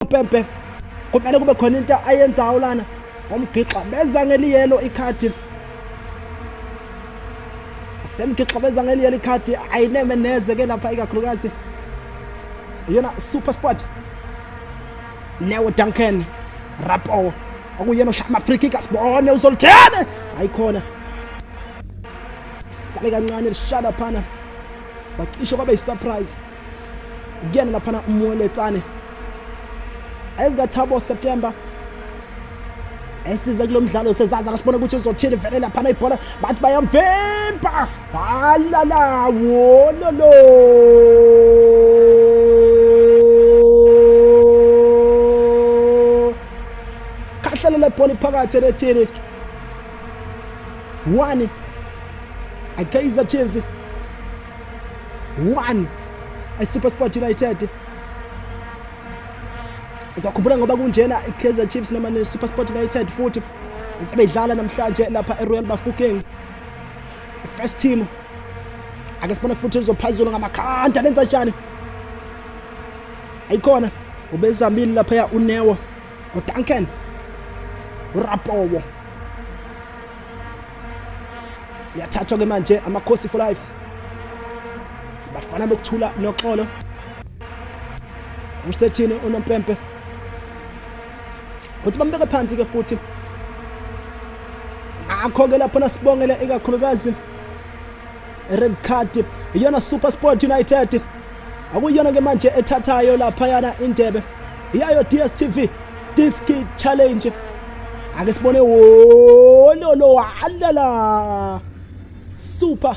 umpempe kumele kube khona into ayenzayo lana ngomgixa beza ngeliyelo ikhadi semgixa beza ngeliyelo ikhadi ayineme neze ke lapha ikakhulukazi yona super sport neo duncan rapo okuyena oshaya amafriki kasibone uzolithene ayikhona sale kancane lishada phana wacishe kwaba yisurprise kuyena laphana umweletsane ezikathabo september esize kulo mdlalo sezaza kasibona ukuthi uzothini vele laphana ibhola bathi bayamvimba halala wololo khahlelela ibhola iphakathi elethini one akaiza chiefs 1 iSuperSport United uzakhumbula ngoba kunjena iKaizer Chiefs noma neSuperSport United futhi sebedlala namhlanje lapha eRoyal Bafokeng first team ake sibone futhi uzophazula ngamakhanda lenza njani ayikhona ubezambile laphaya unewo uduncan urapowo Liyathathwa ke manje amakhosi for life. Bafana bokuthula noxolo. Umsethini unompempe. Uthi bambeke phansi ke futhi. Akho ke lapho nasibongele ikakhulukazi red card iyona super sport united akuyona ke manje ethathayo laphayana indebe iyayo dstv disc challenge ake sibone wololo walala super